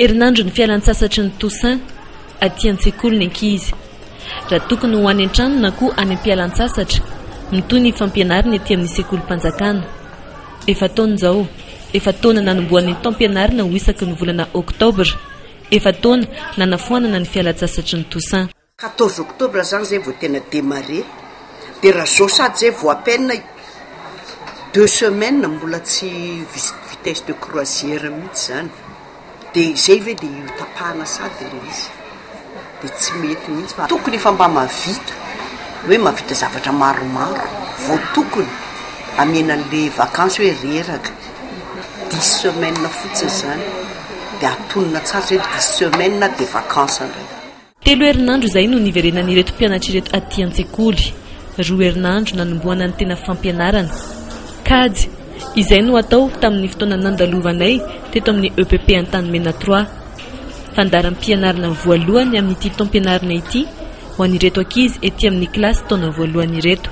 Herinandro ny fialan-tsasatry ny Toussaint aty an-tsekoly ny ankizy. Raha tokony ho any an-trano na koa any am-pialan-tsasatra, mitohy ny fampianariny ety amin'ny sekolim-panjakana. Efa taona izao, efa taona nanombohan'ny taom-pianarina ho isaky ny volana oktobra, efa taona nanafoanana ny fialan-tsasatry ny Toussaint. Quatorze octobre zany zay vao tena demarre, de raha zao sady zay vao à peine deux semaines mbola tsy vitesse de croisière mihitsy zany, de zay ve de io tapahana sady ilay izy de tsy mety mihitsy fa tokony efa mba mahavita hoe mahavita zavatra maromaro vao tokony hamena anle vacance hoe reraka, dix semaines fotsiny zany de atonina tsara zay dix semaines de vacance ndray. Telo herinandro izay no niverenan'ireto mpianatra ireto aty an-tsekoly. Roa herinandro nanombohana ny tena fampianarana. Kajy. Izay no atao tamin'ny fotoana nandalovanay teto amin'ny EPP Antanimena trois. Fandaharam-pianarana voalohany amin'ity taom-pianarana ity ho an'ireto ankizy ety amin'ny kilasy taona voalohany ireto.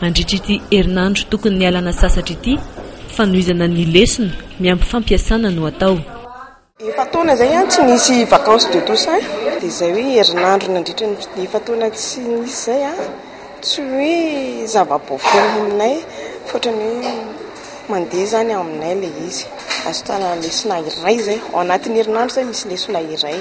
Mandritra ity herinandro tokony nialana sasatra ity, fanohizana ny lesona miampy fampiasana no atao. Efa-taona izay tsy nisy vacances de Toussaint, dia izay hoe herinandro nandritra ny efa-taona tsy nisy izay an, tsy hoe zava-baovao aminay fa ohatran'ny hoe mandeha izany aminay ilay izy. Azo itanana lesona iray izay, ao anatin'ny herinandro izay misy lesona iray,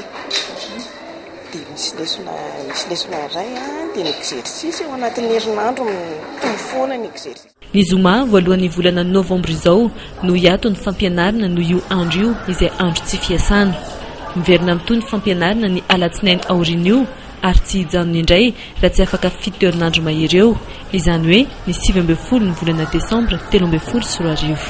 dia misy lesona misy lesona iray an, dia ny exercice ao anatin'ny herinandro mitovy foana ny exercice. Ny zoma voalohan'ny volana novambra izao no hiato ny fampianarana noho io andro io izay andro tsy fiasana. Miverina mitohy ny fampianarana ny alatsinainy aorian'io ary tsy hijanona indray raha tsy afaka fito herinandro mahery eo, izany hoe ny sivy ambin'ny folo ny volana desambra telo ambin'ny folo sy roa arivo.